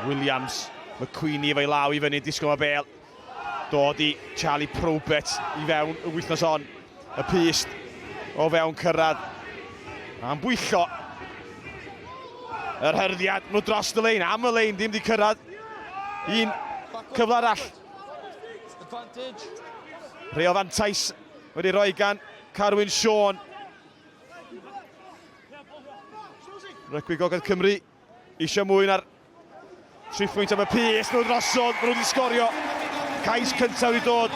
Williams, McQueenie efo'i law i fyny, disgwyl mae bel. Dod i Charlie Probert i fewn y wythnos hon. Y pyst o fewn cyrraedd. A'n bwyllo. Yr hyrddiad, nhw dros y lein, am y lein, ddim di cyrraedd. Un cyfle arall. Rheo fantais wedi rhoi gan Carwyn Sean. Rygbi Gogledd Cymru eisiau mwy na'r tri phwynt am y pys nhw drosodd, maen nhw wedi sgorio. Cais cyntaf wedi dod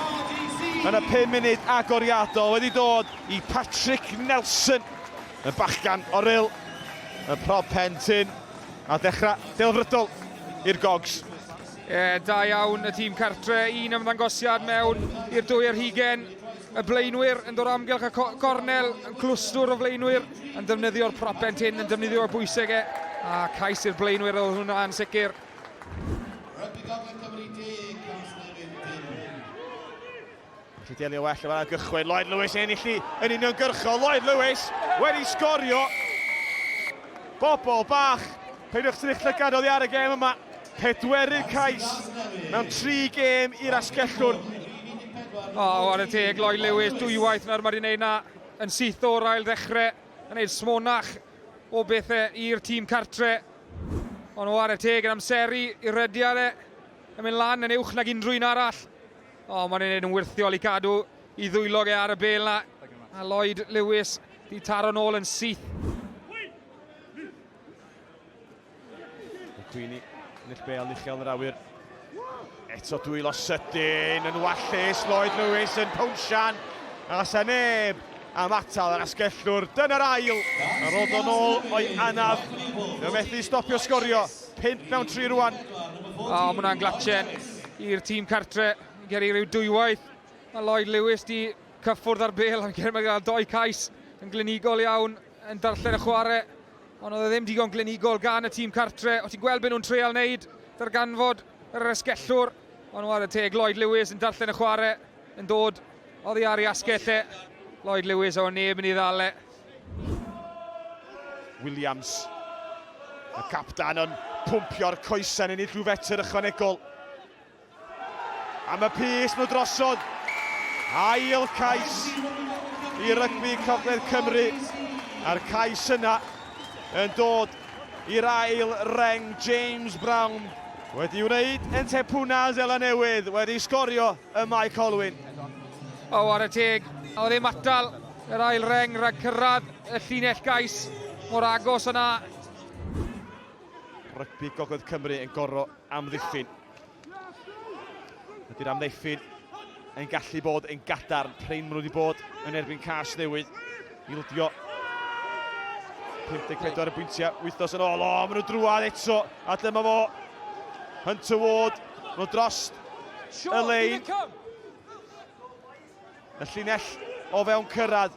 yn y 5 munud agoriadol wedi dod i Patrick Nelson, y bachgan o'r il, y prob pen tyn, a dechrau delfrydol i'r gogs. E, da iawn y tîm cartre, un ymddangosiad mewn i'r dwy ar hugen. y blaenwyr yn dod amgylch y gornel, yn clwstwr o flaenwyr yn defnyddio'r propent hyn, yn defnyddio y bwyseg e, a cais i'r blaenwyr oedd hwnna yn sicr. Felly delio well efo'r argychwyn, Lloyd Lewis yn enillu yn union gyrchol, Lloyd Lewis wedi sgorio. Bobl bach, peidiwch trych llygad oddi ar y gem yma. Pedwerydd cais mewn tri gêm i'r Asgellwr. O, ar y teg, Lloyd Lewis, dwywaith nawr mae wedi gwneud na yn syth o'r ail ddechrau, yn gwneud smonach o bethau i'r tîm cartre. Ond o, ar y teg yn amseru i rediad e, yn mynd lan yn uwch nag unrhyw un arall. O, mae'n ei wneud yn wirthiol i cadw i ddwyloge ar y bel 'na. A Lloyd Lewis 'di taro'n ôl yn syth. Cwini, Nill Bale, uchel yn yr awyr. Eto dwylo sydyn yn wallus, Lloyd Lewis yn pownsian. A se neb am atal yr asgellwr. Dyna'r ail. A rod o'n ôl o'i anaf. Fe methu stopio sgorio. 5 mewn 3 rwan. O, oh, mwna'n glatchen i'r tîm cartre. Geri rhyw dwywaith. Mae Lloyd Lewis di cyffwrdd ar bel am Geri Magal. Doi cais yn glinigol iawn. yn darllen y chwarae, ond oedd e ddim digon glinigol gan y tîm cartre. O ti'n gweld beth nhw'n treial wneud, darganfod yr esgellwr, ond oedd y teg Lloyd Lewis yn darllen y chwarae, yn dod oddi ar ei asgell e. Lloyd Lewis o neb yn ei ddal e. Williams, y captan yn pwmpio'r coesau yn ennill rhyw fetr ychwanegol. Am y pys nhw drosodd. Ail cais i rygbi Cogledd Cymru. A'r cais yna yn dod i'r ail reng. James Brown wedi wneud yn Tepuna Zela Newydd wedi sgorio y Mae Colwyn. O ware teg, oedd ddim atal yr ail reng rhag cyrraedd y llinell gais mor agos yna. Rygbi Gogledd Cymru yn gorfod amddiffyn. Ydy'r amddiffyn yn gallu bod yn gadarn. Prin maen nhw wedi bod yn erbyn cas newydd. Ildio 54 y bwyntiau wythnos yn ôl. O, maen nhw drwad eto. A lle mae fo? Hunter Ward. Maen nhw dros y lein. Y llinell o fewn cyrraedd.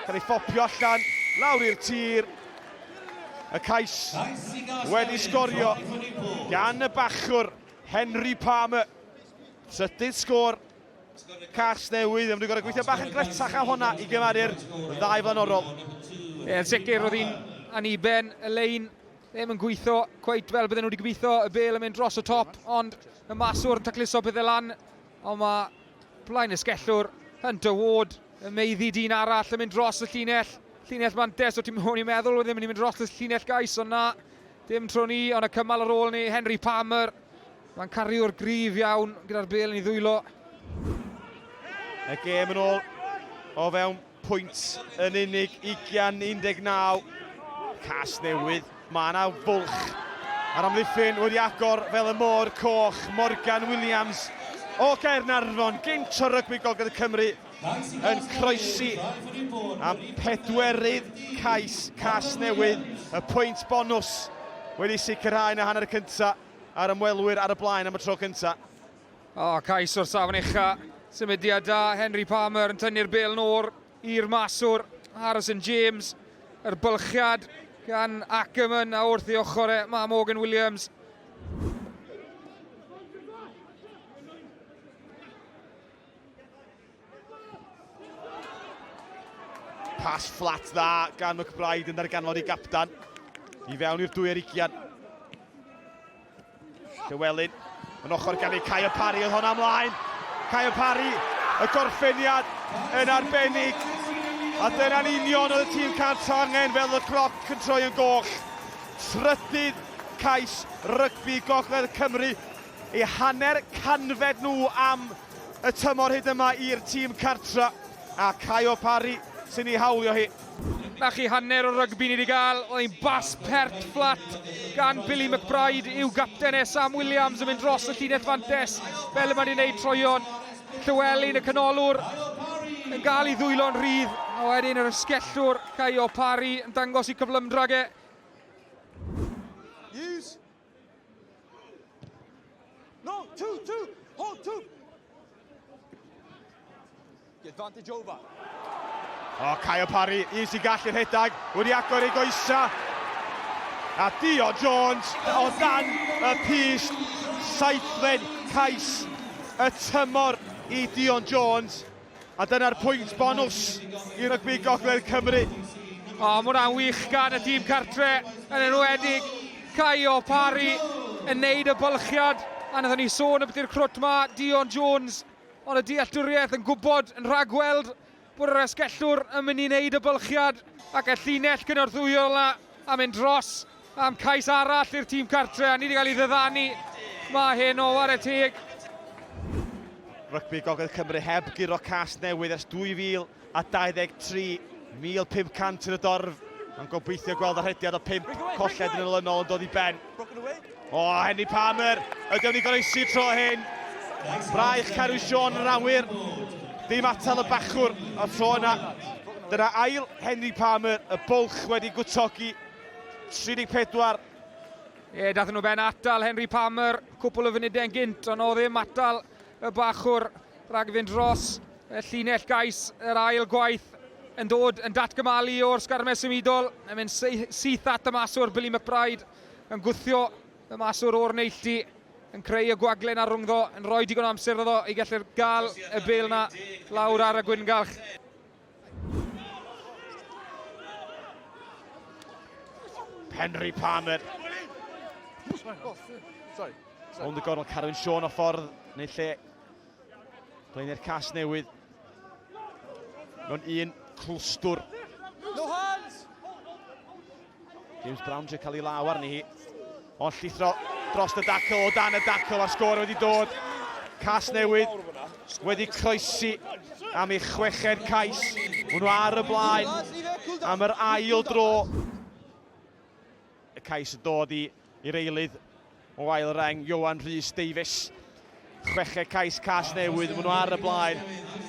Cael ei phopio allan, lawr i'r tir. Y cais wedi sgorio gan y bachwr Henry Palmer. Trydydd sgôr cas newydd. Maen nhw'n gorau gweithio bach yn gletach a honna i gymaru'r ddau flaenorol. Ie, yn sicr, oedd hi'n aniben y lein ddim yn gweithio cweit fel bydden nhw wedi gweithio y bel yn mynd dros y top, ond y maswr yn tacluso pethau lan Ond mae Blaenysgellwr yn dywod y meiddi dyn arall yn mynd dros y llinell. Llinell mantes o ti'n o'n i'n meddwl oedd ddim yn mynd dros y llinell gais ond na. Dim tro ni ond y cymal ar ôl ni Henry Palmer. Mae'n cariwr grif iawn gyda'r bel yn ei ddwylo. Y gêm yn ôl o fewn pwynt yn unig, 20-19. Cas newydd, mae yna fwlch ar amddiffyn wedi agor fel y môr coch, Morgan Williams o Gaernarfon, gynt o rygbi Gogledd Cymru yn croesi am pedwerydd cais cas newydd, y pwynt bonws wedi sicrhau yn y hanner cyntaf a'r ymwelwyr ar y blaen am y tro cyntaf. A cais o'r safon ucha. Symudiad da, Henry Palmer yn tynnu'r bel nôl i'r maswr, Harrison James. Yr bylchiad gan Ackerman a wrth ei ochr e, mae Morgan Williams. Pas fflat dda gan McBride yn darganfod ei gapdan. I fewn i'r dwy ar ugian. Llewelyn, yn ochr gan ei Caio Parry oedd hon amlaen. Caio Parry, y gorffeniad yn arbennig. A dyna'n union oedd y tîm cant angen fel y cloc yn troi yn goll. Trydydd cais rygbi Gogledd Cymru, ei hanner canfed nhw am y tymor hyd yma i'r tîm cartra. A Caio Parry sy'n ei hawlio hi. 'Na chi hanner o rygbi ni 'di gael, oedd hi'n bas pert fflat gan Billy McBride i'w gapten e, Sam Williams yn mynd dros y llinell fantes fel y mae wedi gwneud troeon. Llywelyn y canolwr yn gael ei ddwylo'n rhydd, a wedyn yr ysgellwr Caio Parry yn dangos i cyflymdrag e. No, two, two, hold two. The advantage over. O, oh, Caio Parry, easy gallu'r rhedeg, wedi agor ei goesa. A Dio Jones o dan y pys, saithlen cais y tymor i Dion Jones. A dyna'r pwynt bonws i rygbi Gogledd Cymru. O, mae hwnna'n wych gan y tîm cartre, yn enwedig Caio Parry yn neud y bylchiad, a nathon ni sôn ambiti'r crwt 'ma, Dion Jones, ond y dealltwriaeth yn gwbod, yn rhagweld bod yr asgellwr yn mynd i neud y bylchiad, ac y llinell cynorthwyol 'na a mynd dros. am cais arall i'r tîm cartre a ni wedi cael ei ddyddanu. Mae hyn o ware teg. Rygbi Gogledd Cymru heb guro cas newydd ers 2023, 1,500 yn y dorf, yn gobeithio gweld y rhediad o pimp colled yn olynol yn dod i ben. O, oh, Henry Palmer, ydyw ni goroesi tro hyn. Braich Caru Sean yn awyr, dim atal y bachwr o'r tro yna. Dyna ail Henry Palmer, y bwlch wedi gwtogi 34. Ie, dathyn nhw ben atal Henry Palmer cwpl o funudau yn gynt, ond o ddim atal y bachwr rhag fynd dros y llinell gais yr ail gwaith yn dod yn datgymalu o'r sgarmes symudol, yn mynd syth at y maswr Billy McBride, yn gwthio y maswr o'r neilltu, yn creu y gwagle na rhwngddo, yn rhoi digon o amser iddo i gallu gael y bel na lawr ar y gwyngalch. Henry Palmer. Ond y gorol Carwyn Sean o ffordd neu lle. Blaenau'r cas newydd. Mewn un clwstwr. No hands! James Brown trio cael ei law arni hi. Ond llithro dros y dacl, o dan y dacl, a'r sgôr wedi dod. Cas newydd wedi croesi am ei chweched cais. Hwnnw ar y blaen am yr ail dro. Y cais yn dod i i'r eilydd o ail reng, Ioan Rhys Davies. Chweched cais cas newydd, maen nhw ar y blaen,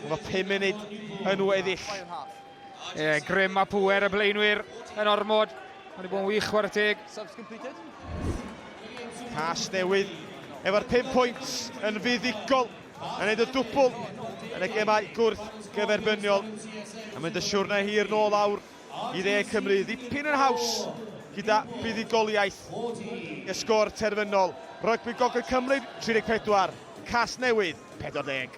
efo 5 munud yn weddill. Ie, yeah, grym a pwer y blaenwyr yn ormod. Mae wedi bod yn wych war y teg. Cas newydd efo'r 5 pwynt yn fuddigol yn neud y dwbl yn y gemau gwrth gyferbyniol. A mynd y siwrna hir nôl awr. i Dde Cymru ddipyn yn haws gyda buddugoliaeth y sgôr terfynol. Rygbi Gogledd Cymru 34, Casnewydd 40.